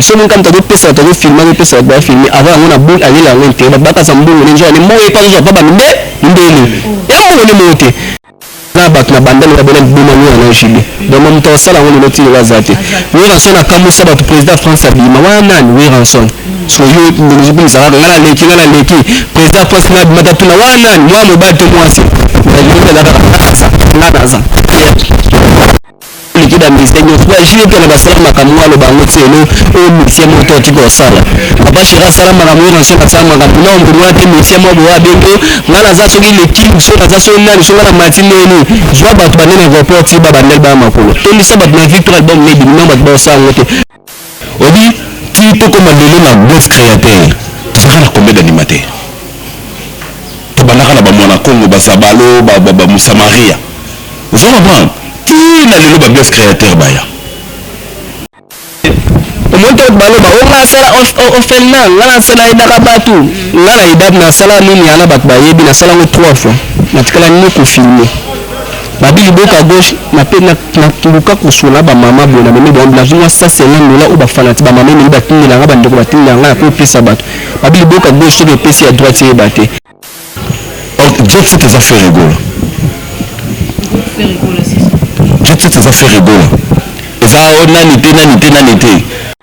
Soni nkamu ta ko pesa batu bazo filma ko pesa batu ba filme avant yango na boni alela yango interet batu ba kasa mbongo ne nzoka ne mbongo ye pe azo zwa pa ba minde mindele ya mbongo ne moko te na batu na banda loba bena liboma nioka na JB donc ma mutu akosala yango lelo ti lelo aza te Werrason akamwisa batu president ya France abima wana nani Werrason so yo ozo kumisa kaka nga na leki nga na leki president ya France nga abima ta tuna wana nani mwana mobali to mwasi na libota na kaka nga naza nga naza oleki ba musicien nyonso ba jeux mpe na basala makambo oyo aloba yango ti elo oyo musicien moko to atiki kosala papa sheri asala makambo oyo naso nasala makambo na ombo mwa te musicien moko boye abengo ngai naza soki leking so naza soki nani so ngai na mati ndeni zwa bato bande na aéroport ti babandeli baya makolo tondisa bato na victoire album na ebimi na bato baosala yango te Olobi tii tokoma lelo na Bluff Createur tozalaka na combien d'animateurs? Tobandaka na ba Muana Kongo, ba Zabalo, ba Musamaria ozo comprendre? Tii na lelo ba Bluff Createur baya. Omoni to baloba oh nga nasala ofelina nga nasala aidaka batu nga na aida nasala nini wana batu bayebi nasala ngo trois fois natikala ni ko filme Babi liboka gauche na pe na luka kosola ba maman boye na memi bango nazui mua cent cinquante dola oyo ba fanati ba maman elingi batindela nga ba ndeko batindela nga na ko pesa batu babi liboka gauche soki epesi ya droite eyeba te Jet set eza faire egola jet set eza faire egola eza nani te nani te nani te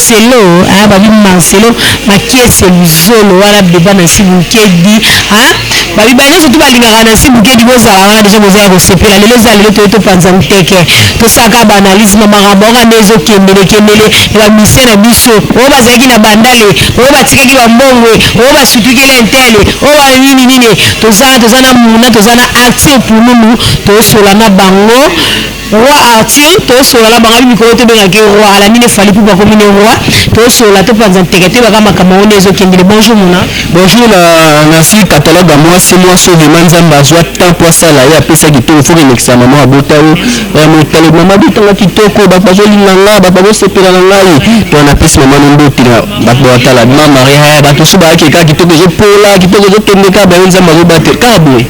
Marcelo hein ba bi Marcelo makiese luzolo wana debat nancy bukedi hein ba bi ba nionso tout ba lingaka nancy bukedi bo zala wana dejà boza ya ko sepela lelo eza lelo toye to panza nteke to sala kaka ba analyse ma makambo oka nde ezo kendele kendele ya ba musicien na biso oyo ba zalaki na bandale oyo ba tikaki ba mbongue oyo ba sutukeli intele oyo ba nini nini toza toza na muna toza na acte pululu to sola na bango Roi Arthur tosolola na bango mikolo tobengaki roi alandi ne fali pupa akomi ne roi tosolola topanza nteke toyebaka makambo yango nde ezokendele bonjour mona bonjour na nasi catalogue ya mwasi mwasi oyo vraimen nzambe azwa temps mpo asala ye apesaki ntongo fo kolekisa mama ya bota yo eh, motale mama bitanga kitoko bato bazolinga nga bato bazosepela na ngai to wana apesi mama no mbote na bato batala ma maria eh, bato mosusu bayaki kaka kitoko ezopola kitoko ezokende kaka bayo nzambe azobatela kaka boye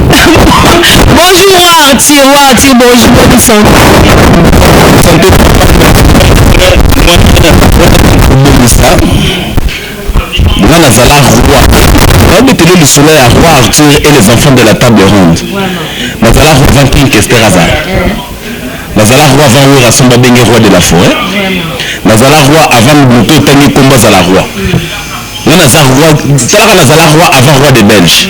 Bonjour Arthur, ou Arthur Bonjour, bonne santé. Nga nazala roi babetele lisolo ya roi arthur et les enfants de la table ronde nazala roi van king kester aza nazala roi van werrason babenge roi de la forêt nazala roi avant moto otangi nkombo azala roi nga naza roi talaka nazala roi avant roi de belge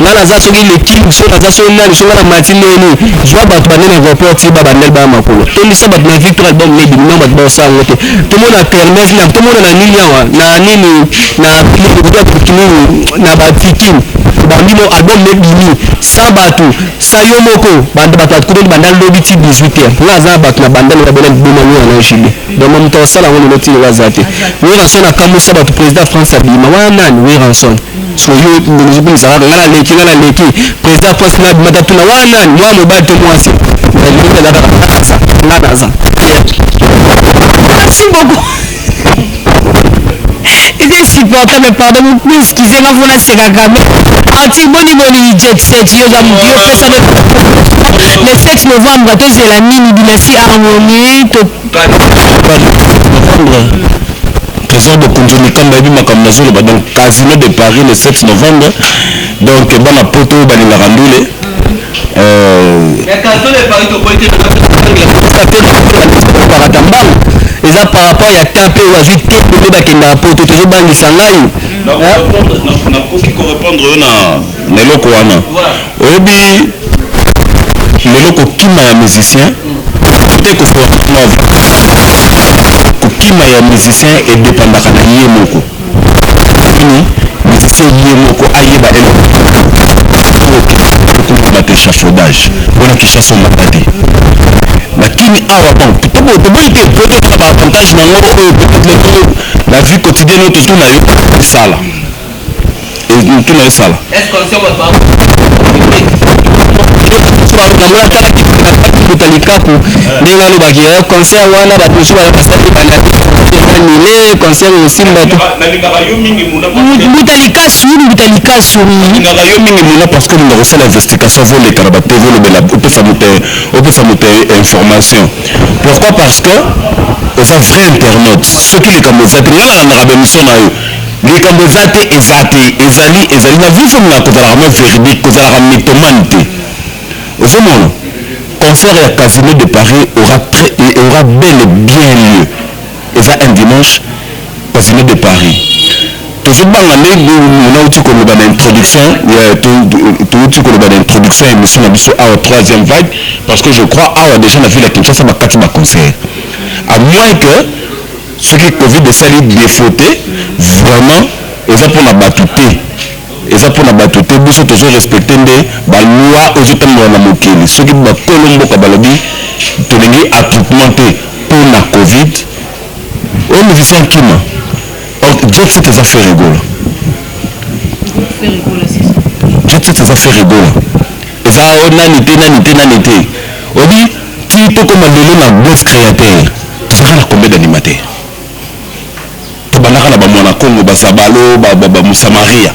nga naza soki le king so naza soki nani so nga na mati ndenge nini zwa bato bande na aéroport ti ba bandel baya makolo tondisa bato na victoire album ne bimina bato baosala yango te tomona kermes na tomona na nini awa na nini na kinini na baviking obandi mo album ne bimi sa bato sa yo moko banda bato atkutani banda lobi ti 18 heure nga aza bato na bandel na babona liboma nio na jile donc moto asala yango lelo ti lelo aza te weranson akamwisa bato président france abima wana nani weranson so yo ndonozobimisa kaka nga naleki nga naleki président pasi nabimata tuna wana nani mwa mobali to mwasi naza kaka nga naza nga naza merci beaucoup eza insupportable pardon excuse nga mpo nasekaka me article boni boni jet set yo oza motu yo pesa le 7 novembre tozela nini dynastie harmonie Tresor Bokonzi Mikamba ayebi makambo nazoloba donc Casino de Paris le 7 novembre donc bana poto oyo balingaka ndule parata mbangu eza par rapport ya temps mpe oyo azwi te nde bakendaka poto tozobangisa ngai nakoki korepondre yo na na eloko wana oyebi lelo kokima ya musicien te kosola kokima ya musicien edependaka na ye moko nini musicien ye moko ayeba eloko okomona te chachaudage wana kishasa omata te lakini awa bon toboyi te po tozala baavantage na yango oyo peut-être lelo na vie quotidienne oyo tozwi na yo esala motuna esala kuta likaku ndenge alobaki eh, concert wana bato mosusu baya basali bananile concert osimba te mbuta likasu mbuta likasu olingaka yo mingi muna parce que olinga kosala investigation voleka na batv olobela opesa moto opesa moto information pourquoi parce que oza vrai internaute soki likambo eza te nga nalandaka baemission na yo Likambo eza te eza te ezali ezali na vie ezolinga kozalaka mwa veridique kozalaka mythomane te ozomona concert ya casino de paris aura très aura bel et bien lieu eza un dimanche casino de paris tozobanga nde nauti koloba na introduction touti koloba na introduction ya émission na biso awa troisième vague parce que je crois awa déjà na ville ya kinshasa bakati baconcert à moins que Soki covid esali defaut te vraiment eza pona batu te eza pona batu te biso tozo respecte nde ba loi ezo tambola na mokili soki ba kolo mboka balobi tolingi attroupement te pona covid oyo musicien akima ok jet set eza ferre gola jet set eza ferre gola eza nani te nani te nani te obi Tii tokoma lelo na Bluff Createur tozalaka na combien d'animateurs? Tobandaka na ba Muana Kongo, ba Zabalo, ba Musamaria,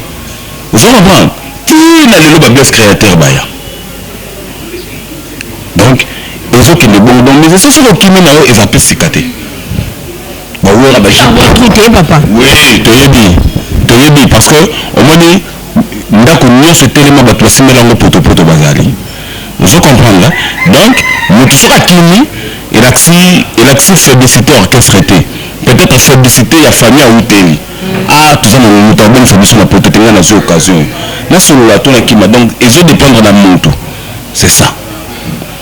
ozo comprendre? Tii na lelo ba Bluff Createur baya. Donc ezo kende bongo donc mais esi soki okimi na yo eza pe sika te. Ba Werra ba Jacques. Ba Werra ba Werra. Oui toyebi toyebi parce que omoni. ndako nionso etelema batu basimbela yango potopoto bazali ozo comprendre donc mutu soki akimi elakisi elakisi faiblicite orchestre te peut etre faiblicite ya famille awuteli ah toza na mutu abomisa biso na poto te ngai nazwi occasion oyo nasolola to nakima donc ezo dependre na mutu c'est ça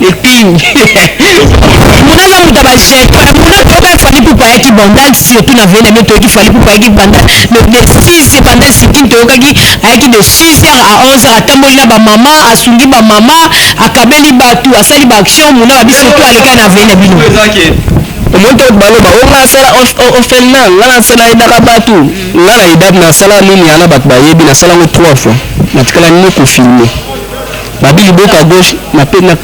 etingi muna na muta ba jeune wana muna toyoka fali pupa ayaki bandal surtout na vele mais toyoki fali pupa ayaki bandal mais de 6 bandal sikin toyokaki ayaki de 6 heures à 11 heures atamboli na ba maman asungi ba maman akabeli batu asali ba action muna babi surtout alekaki na vele bino omoni to baloba o nga asala ofel na nga nasala edaka batu nga na idab nasala nini yana bato bayebi nasala ngo 3 fois natikala nini kofilme Babi liboka gauche na pe na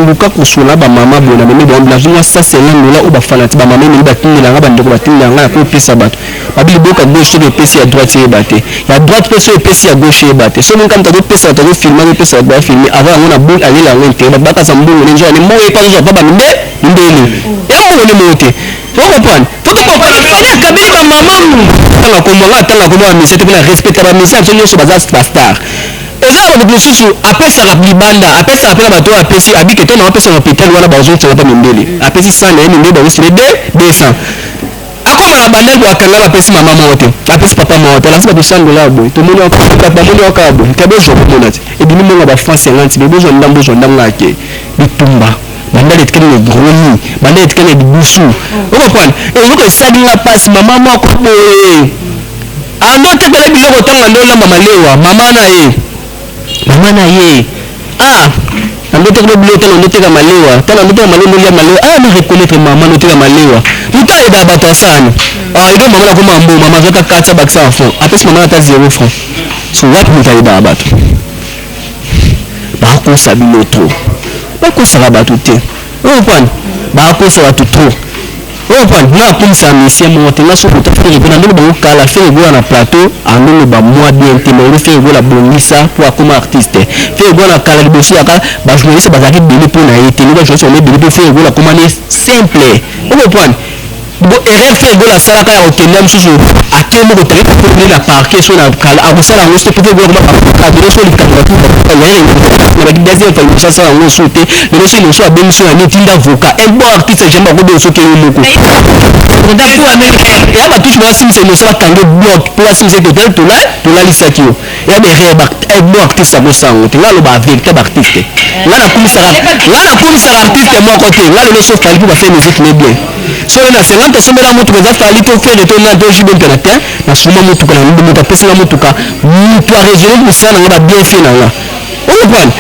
luka kosola ba maman boye na memi bango nazui mua cent cinquante dola oyo ba fanati ba maman elingi batindela nga ba ndeko batindela nga nakomi pesa batu babi liboka gauche soki epesi ya droite eyeba te ya droite pe soki epesi ya gauche eyeba te soki nkamta azopesa batu azofilme azopesa batu bafilme ava yango na bul alela yango intere batu bakasa mbongo ne nzoane mbongo epa azozwa pa bambe mbeli ya mbongo ne moko te okoprendre kabeli ba maman tanga kombo nga tanga kombo ba misie te pona respecta ba misie biso nyonso baza bastar Eza naba mutu mususu apesaka libanda apesaka pe na batu oyo apesi abi que te nao pesa na hopital wana bazo tianga pa mindele apesi 100 naye mindele bazo signe de 200 akoma na bandal po akanga ba pesi mama moko te apesi papa moko te alakisi batu 100 dollars boye tomoni yao kaka bamoni yao kaka boye te bozua bomona te ebimi mbongo ya ba francs 50 mais bozua ndambu bozua ndambu kaka te bitumba bandal etikali na egroni bandal etikali na lidusu okomprendre eloko esali nga pasi mama moko boye Ando otekela ye biloko otanga ando olamba malewa maman na ye maman na ye ah ando otekela biloko tala ando oteka malewa tala ando oteka malewa olia malewa ah na reconnaître maman na oteka malewa mutu ayebaka bato ya sana ah eka maman na koma mbo maman azwaka kati ya bakisa enfant apesi maman ata zero franc so wapi mutu ayebaka bato bakosa bino trop bakosaka bato te oyo pwana bakosa bato trop Oyo pwani nga nakumisa misie moko te nga soki ota fere gola ndenge bango kala fere gola na plateau andoloba mwa bien te mais fere gola bongisa mpo akoma artiste fere gola na kala liboso yaka bajournaliste bazalaki ebele mpo na ye te nde bajournaliste bama ebele mpo fere gola akoma ne simple oyo pwani bo erreur fere gola asalaka ya kokende ya mosusu ake moko te ayaki kokende na parquet so na kala akosala yango soki fere gola akoma parquet so likambo ya tout ya ye na baki deuxième fois liboso asala yango osu te lelo soki mosu abengisi yo na nini tinda avocat un bon artiste jamais akobenga soki yo moko ya batushi basimisa emosi bakanga blog mpo basimisa ete otali tola tolalisaki yo ya berere un bon artiste akosango te nga loba véritable artiste nga nakumisaka nga nakumisaka artiste moko te nga lelo so fali mpo bafe musique ne bien solo na 50 osombela motuka eza fali to fere to nani to jibe mpe na te nasuma motuka na moto apesi nga motuka moto aresume mosala na nga babienfie na nga oyo pwani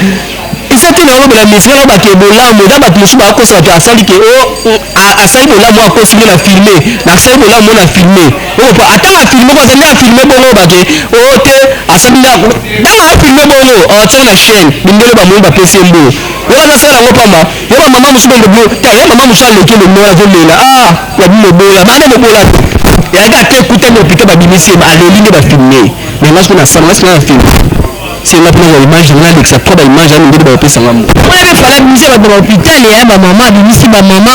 eza te na olobela mesure na bato ya bolamu eza bato mosusu bakosa bato asali ke o oh, asali bolamu akosi nde na filme nasali bolamu na filme oyo oh, ata na filme ko azali na filme bongo bake o oh, te asali nde ntango na filme bongo atia na chaîne mindele bamoni bapesi mbo yo baza sala yango pamba yo bamama mosusu bongo blo ta ya mama mosusu aleki lomola azolela a ah, ya bimobola bande mobola te yaka te kuta mopita babimisi aleli nde bafilme mais ngai soki nasala ngai soki na filme Sio ngapi na image na lekisa kwa ba image ya ndenge ba pesa ngambo. Oya na fala bimise ba ba hopital ya ba mama bimisi ba mama.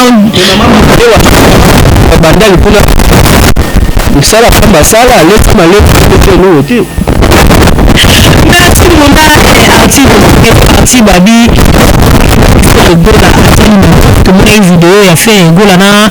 Ba banda likuna. Musala famba sala leta maleta kote no te. Merci mon gars, artiste de parti babi. Gola asali na tomona ye video ya fin gola na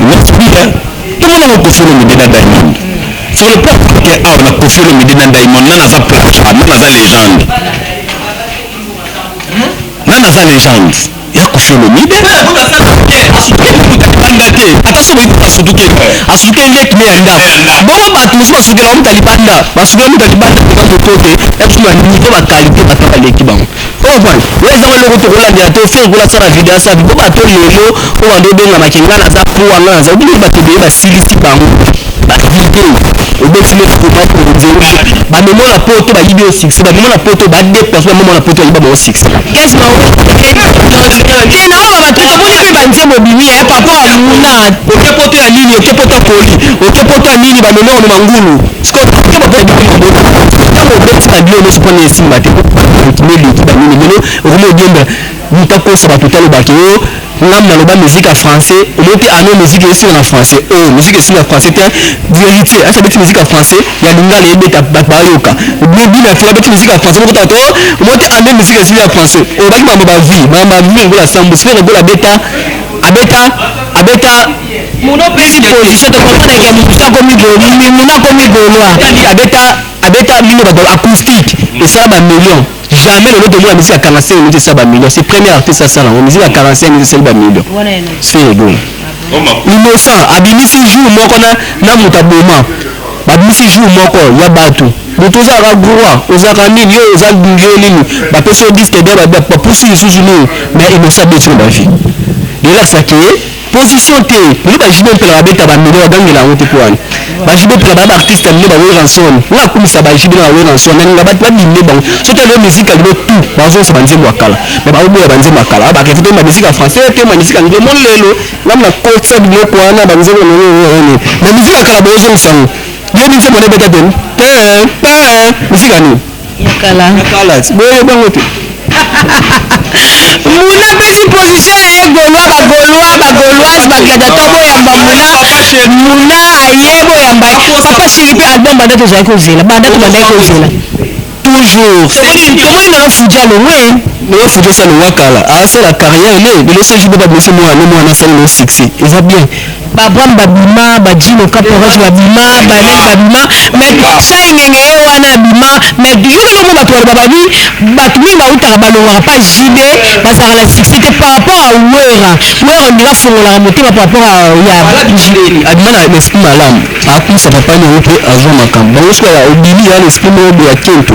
Merci bien. Tout le monde Kofi Olomide na Diamond. Sur le plan africain, awa na Kofi Olomide na Diamond, nana aza plateau, nana aza légende. Nana aza légende. Ya Kofi Olomide. Banda te, ata soki boyebi asutuke, asutuke leki ne ya ndako. Bongo bato mosusu basukela mutu ya libanda, basukela mutu ya libanda mpe bato kote, ya biso ba niveau ba qualité bato baleki bango. Comprendre? Yo eza ngo eloko toko landela te ofinga kuna sala video ya sabi po bato lelo po bando bengama ke nga naza poa nga naza obini bato beye basilisi bango ba video obeti neti komaki okonzeli ba memo na poto bayibi yo succès ba memo na poto ba deplace ba memo na poto bayiba bango succès Yes, ma oui. Te na oyo bato tomoni mpe banzembo ebimi ya papa amuna oke poto ya nini oke poto ya koli oke poto ya nini ba memo ya mangulu ngambo naloba musique ya français omoki ano musique eyesinga na français o oh, musique esinga français te verité asa beti musique ya français ya lingala ebeta bato bayoka bina fela beti musique ya français mokota to oh, omoki ano musique esinga ya français olobaki oh, mambo bavie mambo bavie lokola sambo sikoyo lokola beta abeta abeta Muno opesi position te papa na kiambukusu akomi golois muno akomi golois abeta abeta bino batu acoustique esala ba million jamais lelo tomona musique ya 45 minutes esala ba million c'est premier artiste asala yango musique ya 45 minutes esali ba million c'est ego innocent abimisi jour moko na na moto aboma babimisi jour moko ya batu moto ozalaka groa ozalaka nini yo oza yo nini bapesi yo disque de bapusi lisusu nini mais innocent abeti na bavie relax ake position te nde ba JB mpela babeta ba million bagangela yango te mpo wana ba JB mpela baya ba artiste ya mine ba Werrason nga akumisa ba JB na ba Werrason na ninga babimne bango soki alo musique ya lelo tout bazonsa ba nzembo ya kala me baoboya ba nzembo ya kala ba revete ba musique ya français te ba musique ya ngemo lelo ngai na kotisa biloko wana ba nzembo nini ba musique ya kala bozongisa yango yo nzembo na ebeta teni te te musique ya nini Mukala. Mukala. Boye bango te. Muna apesi position na ye golois ba golois ba goloise ba gladiateur boyamba muna muna aye boyamba papa sheri mpe album banda tozali kozela banda tobandaki kozela toujours tomoni ndola fuji alongwe ndola fuji asali wakala asala carrière ne lelo se jour baba blesse mwana mwana asali na succès eza bien ba Abraham babima ba Djino Caporal babima ba Lek babima mais Sai Ngenge ye wana abima mais yo lelo mo bato baloba babi bato mingi bautaka balongaka pa JB bazalaka na succès te par rapport à Werra Werra ondira afongolaka motema par rapport à ya JB abima na esprit malamu akumisa papa na ye mpe azwa makambo bango soki obimi ya na esprit moko boya kento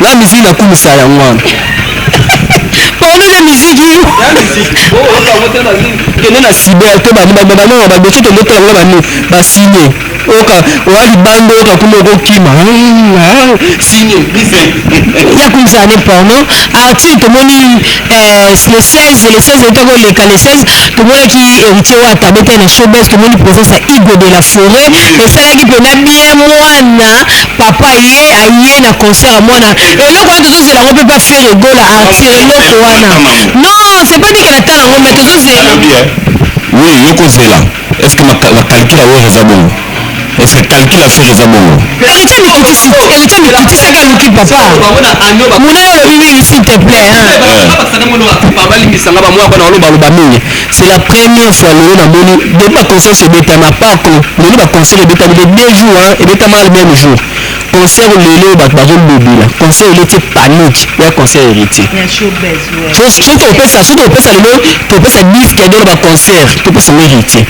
N'a musique na kumisa yango wana. Pardon na musique yo. Na musique. Oh, oh ka moto na musique. Kende na cyber to ba ba ba ba ba beti to moto na ba ni ba signé. Oka oh, wa libando oka oh, kuma ko kima. Signé. Ya kumisa ne porno. Artiste to moni Eh, le 16 le 16 euta koleka le 16 tomonaki héritier wata abetaki na showbase tomoni présence ya igo de la forêt esalaki mpena bien mwana papa ye aye na concert ya mwana eloko wana tozozela yango mpe mpa fere egola artire eloko wana non c'est pas dikela tala yango mais tozozela oui yokozela Est ce que ma, ma calcul à Wera Zabongo Est ce que calcul à Ferre Zabongo Héritier mikitisi héritier mikitisi aka luki papa muna olobi mingi s'il te plaît babalimbisanga bamwa bana baloba loba mingi c'est la première fois lelo namoni depuis baconcert ebetama pako lelo baconcert ebetami de deux jours ebetama le même jour concert lelo bato bazolobela concert ele ti panique ya concert héritier soki topesa soki topesa lelo topesa bis kende na baconcert topesa ngo héritier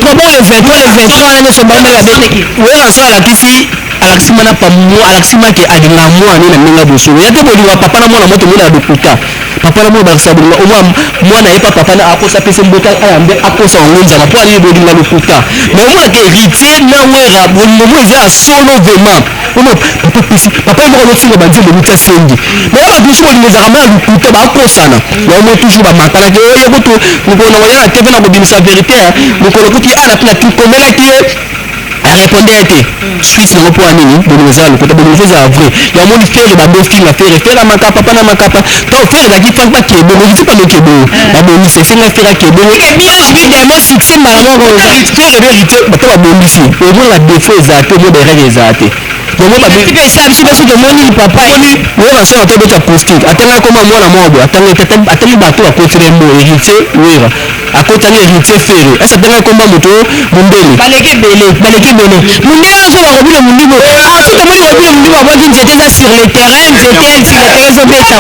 kobo le 23 le 23 wana nyonso mbanda babe oyo aso alakisi alakisi mana pamu alakisi make alinga mwana na ndenge boso ya te bolinga papa na mwana moto mona ya lokuta papa na mwana bakisa bolinga omwa mwana ye pa papa na akosa pese mboka ayambe akosa yango nzala mpo ayebi bolinga lokuta me omonaka héritier na wera bolingo mo eza ya solo vraiment omo papa pesi papa ye moko azotinga banzembo mitya sengi me na bato mosusu bolingo ezalaka ma ya lokuta bakosana yango mo toujours bamakanaki oyo kutu mokolo na koya na tv na kobimisa verité mokolo kutu ye ana mpe na komelaki ye a repondre ete suite nango mpo ya nini bolingo eza ya lokuta bolingo fo ezala vrai ya omoni fere bando ofinga fere fere ya makapa mpa na makapa to fere ezalaki fan mpa kebongo ezalaki pano kebongo babongisi esenga fere ya kebongo évidemment succès mbala moko fere verité bato babongisi omona défaut ezala te omona erreur ezala te yango babiso biso tomoni papa oyo na sona tobeta acoustique atanga koma mwana moko boye atanga atangi bato akotina mbo héritier wera akota ni heritier ferre asa tanga komba moto mundele baleki ebele baleki ebele mundele oyo soki bakobino mundibu afi tomoni kobino mundibu abwaki nzete eza sur le terrain nzete sur le terrain ezobeta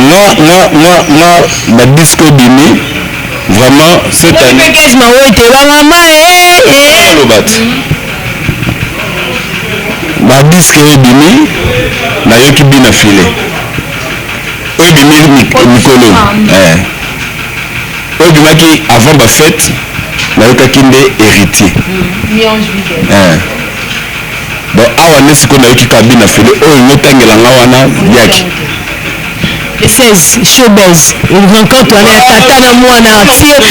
nga nga nga nga ba disco bimi vraiment cette année package mawete bangama lobat ba disque ebimi nayoki bina filet oyo ebimeli mikolo eh. oyo ebimaki avant bafete nayokaki nde héritier mm, eh. bon awa nde sikoyo nayoki kabina fele oyo ngotangela nga wana yaki le 16 showbase rencontre wana ya tata na mwana arthur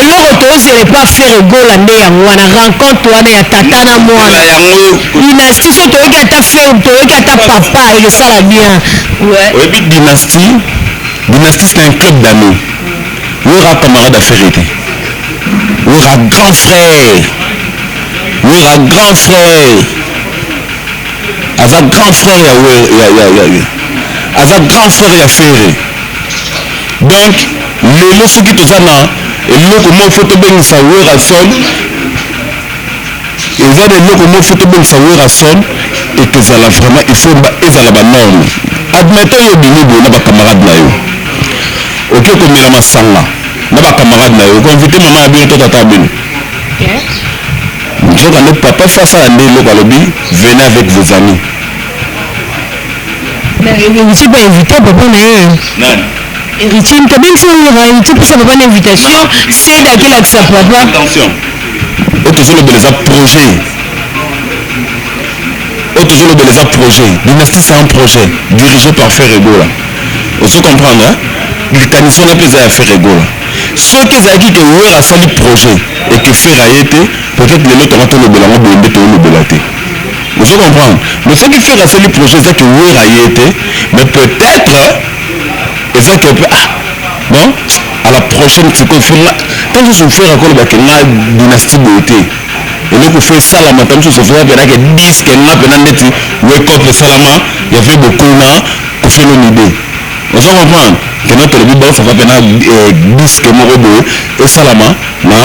eloko tozela epa fere gola nde yango wana rencontre wana ya tata na mwana yango Dynastie so toyoki ata film toyoki ata papa eko sala bien ouais. Oyebi dynastie dynastie c'est un club d'amis wera camarade ya ferre te wera grand frère wera grand frère aza grand frère ya wer ya ya ya ya aza grand frère ya ferre donc lelo soki toza na eloko moko fo tobengisa werrason Eza na eloko moko faut tobongisa Werrason et ezala vraiment il faut ezala ba normes. Admettons yo obimi boye na ba camarades na yo oke komela masanga na ba camarades na yo oko inviter maman na bino to tata na bino? Nzoka nde papa faut asala nde eloko alobi venez avec vos amis. Mais heritier pe inviter papa na ye. Nani? Heritier moto abengisa werra heritier apesa papa na invitation cede akela kisa papa. Attention. oyo tozolobela eza projet oyo tozolobela eza projet dynastie c'est un projet dirigé par ferre egola ozo comprendre likanisi wana mpe eza ya ferre egola soki ezalaki ke wera asali projet eke ferre aye te peut-être lelo tonga tolobela yango boye nde toolobela te ozo comprendre mais soki ferre asali projet eza ke wera aye te mais peut-être eza ke mpe ah bon à la prochaine sikoyo fina ntango mosusu frere akoloba ke nga dynastie boye te eloko fe esalama ntango mosusu frere apenake diske nga mpena ndeti wekop esalama ya fe bokona kofelomide ozo comprendre mpena tolobi banso fa mpena eh, diske moko boye esalama na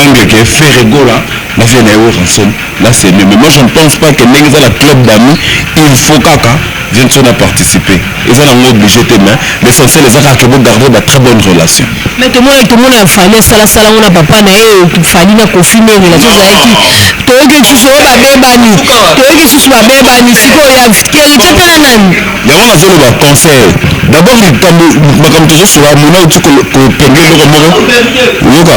angle ke ferre gola na vie na ye ranson Là c'est mieux mais moi je ne pense pas que ndenge eza na club d'amis il faut kaka je ne suis na participer eza na ngo obligé te mais l'essentiel eza kaka bo garder ba très bonne relation mais to mona to mona fali sala sala ngona papa na ye fali na kofi mais relation za yaki to yeki susu ba bebani to yeki susu ba bebani siko ya keriti pe na nani Yango nazo loba conseil d'abord likambo makambo tozo sura mona uti ko penge loko moko yoka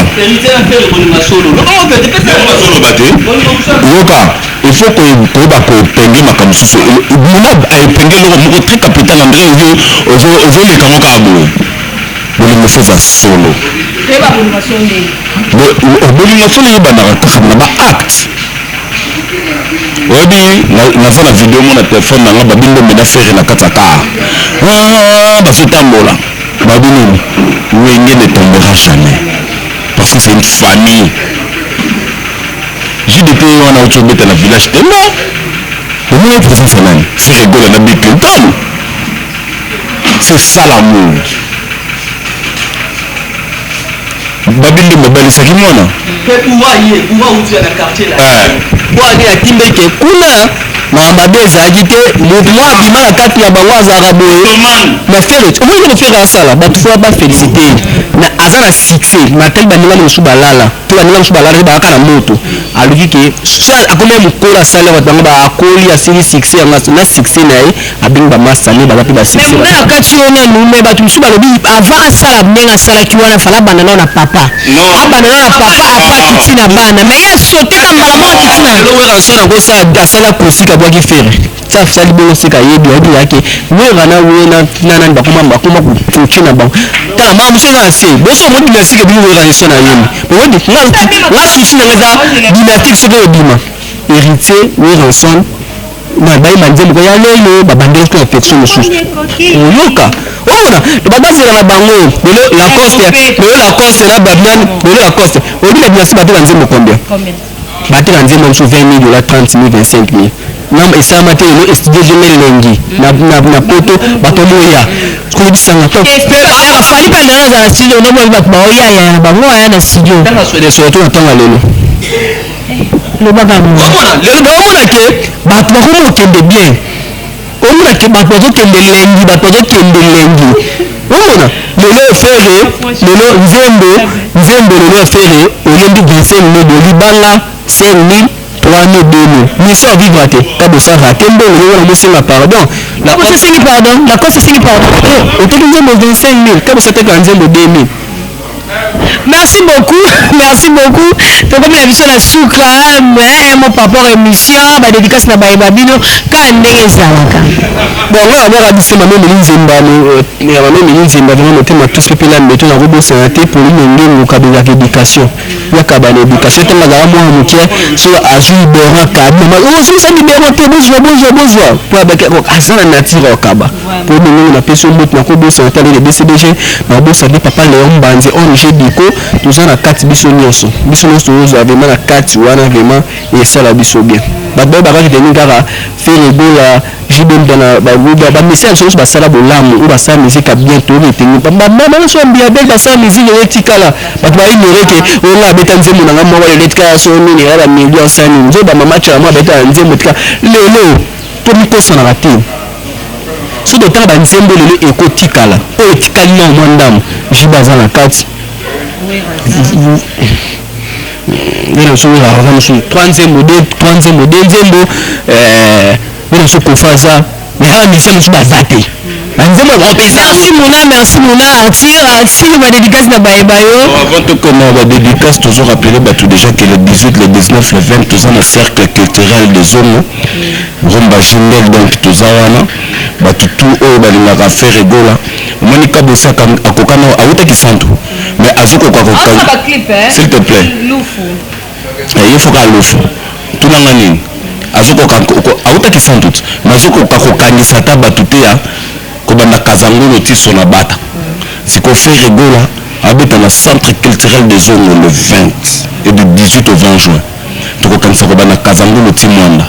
yoka il faut ko ko ba ko penge makambo susu mona ay penge loko moko très capital André ozo ozo ozo leka ngo ka bo bolingo fo za solo bolingo fo lelo ba na kaka na ba acte oyebi naza na video mona telefone na nga babi ndombe na fere na kati ya kaa ah, bazotambola babi nini wenge ne tombera jamais parce que c'est une famille jdt wana auti obeta na village temba omona présence ya nani fere gola na bill clinton c'est ça l'amour babi nde babalisaki mwana bwani atindaki ke kuna makambo mabe ezalaki te moto mwa abima na kati na bango azalaka boye na felix omoni nde mofere asala bato fo bafelisite na aza na succès matali baninga mosusu balala to baninga mosusu balala te bayaka na moto aluki ke akomi mokolo asali bato bango baakoli asili succès yango na succès na ye abini ba masta ne baza pe ba succès mais muna na kati yo nanu mais batu musu balobi avant asala ndenge asalaki wana fala banda nao na papa abanda nao na papa apa kiti na bana mais ye asote na mbala moko kiti na lelo werrason akosala asala kosi kabwaki fere ti asali bongo seka yebi ayebi yake werra na we na nani bakoma bakoma koki na bango tala mama musu eza na se boso omoni dynastique ebimi werra eson ayemi omoni nga susi nanga eza dynastique soki ebima héritier werrason na bayi manzembo ko ya lelo babandelaki na infection mosusu oyoka omona babazela na bango lelo lacoste lelo lacoste na babian lelo lacoste oyebi na binasi bateka nzembo combien bateka nzembo mosusu 20 mille dola 30 mille 25 mille nam esalama te lelo estudio jeme elengi na poto bato boya kolobisanga to fali mpe ndenge azala studio nde boyebi bato baoyayaya na bango aya na studio ntango aswede soto na ntango ya lelo loba bango omona lelo baomona ke bato bakomi kokende bien omona ke bato bazokende lengi bato bazokende lengi omona lelo efere lelo nzembo nzembo lelo efere oyembi 25 mil libanga 5 mil 3 mil 2 mil miso ya vivre te ta bosara te mbongo lelo na mosenga pardon na kosa sengi pardon na kosa sengi pardon otoki nzembo 25 mil ta bosateka nzembo 2 mil Merci beaucoup merci beaucoup tokomi na biso na suka mais un mot par rapport emission ba dedicace na baye ba bino kaka ndenge ezalaka bon nga na mwaka bise mame meli nzemba ya mame meli nzemba vraiment motema tous mpe na mbeto nakobosana te pauline ngengo kabelaka éducation yakaba na éducation ntango azala mwana moke so azwi liberan kabi mama ozwisa libero te bozwa bozwa bozwa mpo abaki aza na nature okaba po lolenge na pesi yo mbote nako bosana te lele bcbg na bosani papa leon mbanzi ong diko toza na kati biso nionso biso nionso tozo zua vraiment na kati wana vraiment esala biso bien bato baye baka retenir kaka ferre gola jb mpiana ba luda ba musiciens biso nionso ba sala bolamu oyo ba sala musique ya bien to retenir ba ba ba nionso ya mbiya bel ba sala musique lelo etikala bato ba ignorer que oyo nga abeta nzembo na nga moko lelo etikala so nini ya ba millions sa nini nzoba mama chala moko abeta nzembo etikala lelo to mikosanaka te soki totanga ba nzembo lelo eko tikala oyo etikali nao mwa ndambo JB aza na kati nde nazo wera aza mosusu trois nzembo de trois nzembo de nzembo eh, nde nazo kofa aza mais awa musicien mosusu baza te banzembo ya grand pesa merci mona merci mona attire attire ba dédicace na baye bayo avant tokoma ba dédicace tozo rappeler bato déjà que le 18 le 19 le 20 toza na cercle culturel de zongo Rumba Jindel donc toza wana batu tout oyo balingaka Ferre Gola omoni kabosaka akoka nao awuta kisantu mais azokoka koka s'il te plait eh, ye foka alufu tuna nga nini azokoka awuta kisantu mais azokoka kokangisa ata batu te ya kobanda kazangolo ti sona bata siko Ferre Gola abeta na centre culturel des Zongo le 20 et du 18 au 20 juin tokokanisa kobanda kazangulu ti mwanda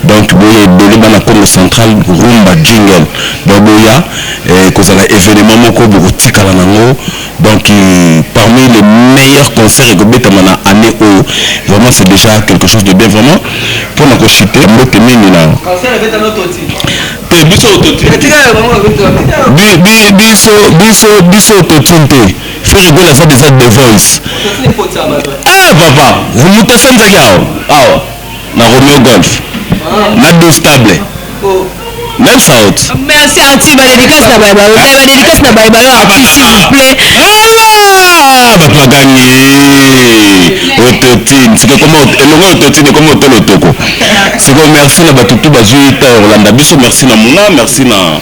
donc boya ebele bana congo central rumba jingle donc boya eh, kozala evenement moko bokotikala nango donc euh, parmi les meilleurs concerts ekobetama na année oyo vraiment c'est déjà quelque chose de bien vraiment mpo na koshite mbote mingi na te biso biso biso biso totine te fo lokola asali eza the voice eh papa moto asanzaki awa awa na romeo golf na 12 table même saute merci anti ba dédicace na baye bayo ba dédicace na baye bayo anti s'il vous plaît bapagani ototine siko ekoma elongo ototine ekoma otolo toko siko merci na bato tu bazwi ntango kolanda biso merci na muna merci na